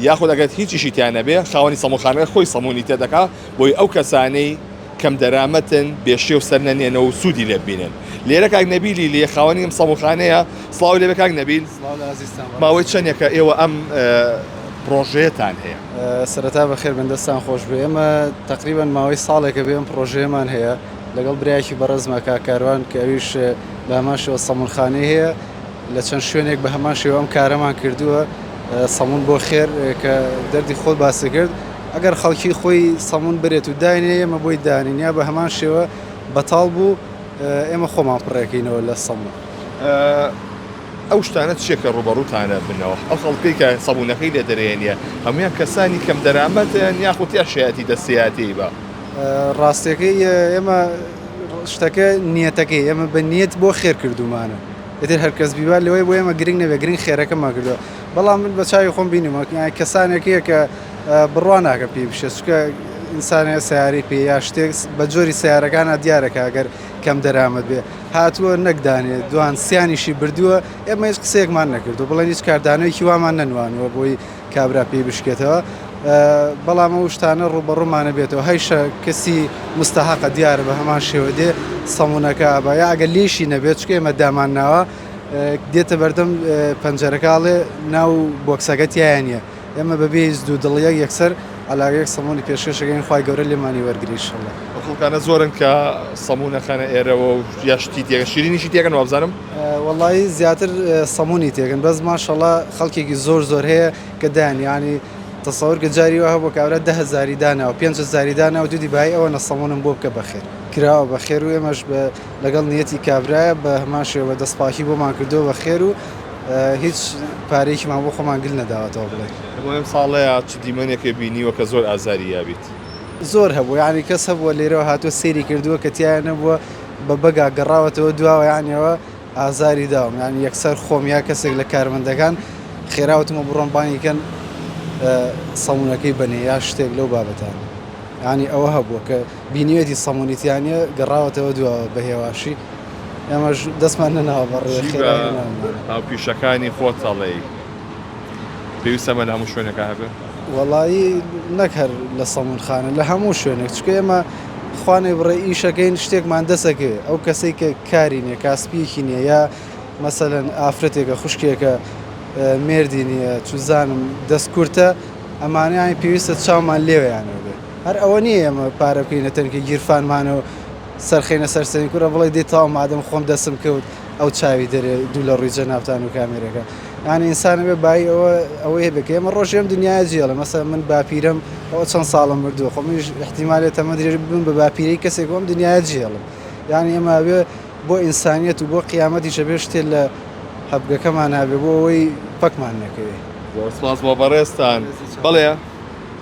یاخود ئەگەر هیچیشی تیا نەبێ خاوەنی سەموونخانەکە خۆی سەموونی تێ دەکا بۆی ئەو کەسانەی کەم دەرامەتن بێ شێو سەر نەنێنە و سوودی لێ ببینن لێرە کاک نەبیلی لێ خاوەنی ئەم سەموونخانەیە سڵاوی لێ بێ کاک نەبیل ماوەی چەندێکە ئێوە ئەم پڕۆژەیەتان هەیە سەرەتا بەخێر بێن دەستان خۆش بێ ئێمە تقریبا ماوەی ساڵێکە بێ ئەم پڕۆژەیەمان هەیە لەگەڵ برایەکی بەڕێزمە کاک کاروان کە ئەویش بە هەمان شێوە سەموونخانەی هەیە لە چەند شوێنێک بە هەمان شێوە ئەم کارەمان کردووە سەمون بۆ خێر کە دەردی خۆت باسی کرد ئەگەر خەڵکی خۆی سەمون برێت و داینێ ئێمە بۆی دانین یا بە هەمان شێوە بەتاڵ بوو ئێمە خۆمان پڕێکەینەوە لە سەمون. ئەو شتانە چیە کە ڕوبەڕوتانە بنەوە ئەو خەڵکەی کە سەبوونەکەی لێ دەرێنە هەموان کەسانی کەم دەرامەتن یاخود یا شایەتی دەستی هاتیی بە. ڕاستەکەی ئێمە شتەکە نیەتەکەی ئێمە بە نیەت بۆ خێر کردومانە ئێتر هەرکەس بیوا لەوەی بۆ ئێمە گرنگ نەبێ گرنگ خێرەکەمان کردووە بەڵام من بە چاوی خۆم بینیمە کەسانێک هەیە کە بڕوا ناکە پێی بشێ چکە ئینسانە سیارەی پێ یا شتێک بە جۆری سیارەکانە دیارەکە ئەگەر کەم دەرامەت بێ هاتووە نەکدانێ دوان سیانیشی بردووە ئێمە هیچ قسێکمان نەکردو بڵێن هیچ کاردانەوەی وامان نەنوانوە بۆی کابرا پێی بشکێتەوە بەڵام ئەو شتانە ڕوبەڕومانە بێتەوە هەیشە کەسی مستەحقە دیارە بە هەمان شێوە دێ سەمونونەکە بە یا ئەگەر لێشی نەبێت چکە ئێمە دامان ناوە دێتە بەردەم پەنجەرەکەڵێ ناو بۆکسەکە تیایە نیە ئێمە بەبێ دوو دڵیەک یەکسەر ئەلاگەیەک سەمونی پێشێشەکەین خی گەورە لێمانی وەرگریشله خڵکانە زۆرن کە سەمونونەخانە ئێرەوە و یاشتی تێگە شیرینیشی تێگەن وابزانم وەڵایی زیاتر سەمونی تێکن بەس ماشەڵا خەڵکێکی زۆر زۆر هەیە کە دایان یانی تەسەور کە جاری وە هەبوو کابرا دە هەزاری دانا و پێنج هەزاری دانا و دیدی بای ئەوە نە سەمونم بۆ بکە بەخێر کراوە بە خێر و ئێمەش بە لەگەڵ نیەتی کابرایە بە هەمان شێوە دەست پاکی بۆمان کردو بە خێر و هیچ پارەیەکیمان بۆ خۆمان گل نەداوەتەوە بڵێ. هەموو ئەم ساڵەیا چ دیمەنێکێ بینیوە کە زۆر ئازاری یابیت؟ زۆر هەبوو یانی کەس هەبووە لێرەوە هاتووە سەیری کردووە کە تیایا نەبووە بە بەگا گەڕاوەتەوە دواوە یانەوە ئازاری داوم یانی یەکسەر خۆم یا کەسێک لە کارمەندەکان خێراوتمە بڕۆن بانگی کەن سەمونونەکەی بنێ یا شتێک لەو بابەتان ینی ئەوە هەبووە کە بینیەتی سەمونیتیانە گەڕاوەتەوە دواوە بە هێواشی ئەمەش دەستمان نەناوە بەڕێ خێرا هاوپیشەکانی خۆتەڵێی پێویستە مە لە هەموو شوێنەکە هەبێت وەڵایی نەکەر لە سەمونخانە لە هەموو شوێنێک چکە ئێمە خوانەی بڕێ ئیشەکەین شتێکمان دەسەکەوێ ئەو کەسەی کە کاری نیە کاسپیەکی نیە یا مەسەلەن ئافرەتێکە خوشکێکە مێردی نیە چوزانم دەستکورتە ئەمانەیان پێویستە چاومان لێوەیانەوە بێ هەر ئەوە نیە ئێمە پارە بکەینە تەنکی گیرفانمانەوە سەرخەینە سەرسەنی کورە بڵێ دێ تاو مادەم خۆم دەسم کەوت ئەو چاوی دەرێ دوو لە ڕووی جەنابتان و کامێرەکە یانی ئینسان بێ بای ئەوە ئەوەی هەبێت کە ئێمە ڕۆژێم دنیای جێڵە مەسەر من باپیرم ئەوە چەند ساڵم مردووە خۆ منیش احتیمالێت تەمە درێژ ببم بە باپیرەی کەسێک بۆم دنیای جێڵم یانی ئێمە بێ بۆ ئینسانیت و بۆ قیامەتی شەبێ شتێ لە هەبگەکەمان هەبێ بۆ ئەوەی پەکمان نەکەوێ زۆر سپاس بۆ بەڕێزتان بەڵێ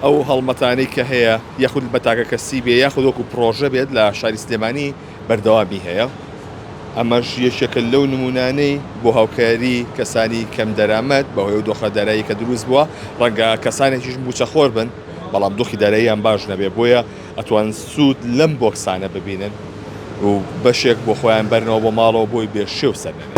ئەو هەڵمەتانەی کە هەیە یاخود بە تاکە کەسی بێ یاخود وەکو پرۆژە بێت لە شاری سلێمانی بەردەوامی هەیە، ئەمەش یەکێکە لەو نموونانەی بۆ هاوکاری کەسانی کەم دەرامەت بەهۆی ئەو دۆخە دارایی کە دروست بووە، ڕەنگە کەسانێکیش مووچەخۆر بن بەڵام دۆخی داراییان باش نەبێت بۆیە ئەتوان سوود لەم بۆکسانە ببینن و بەشێک بۆ خۆیان بەرنەوە بۆ ماڵەوە بۆی بێ شێو سەر نەبێت.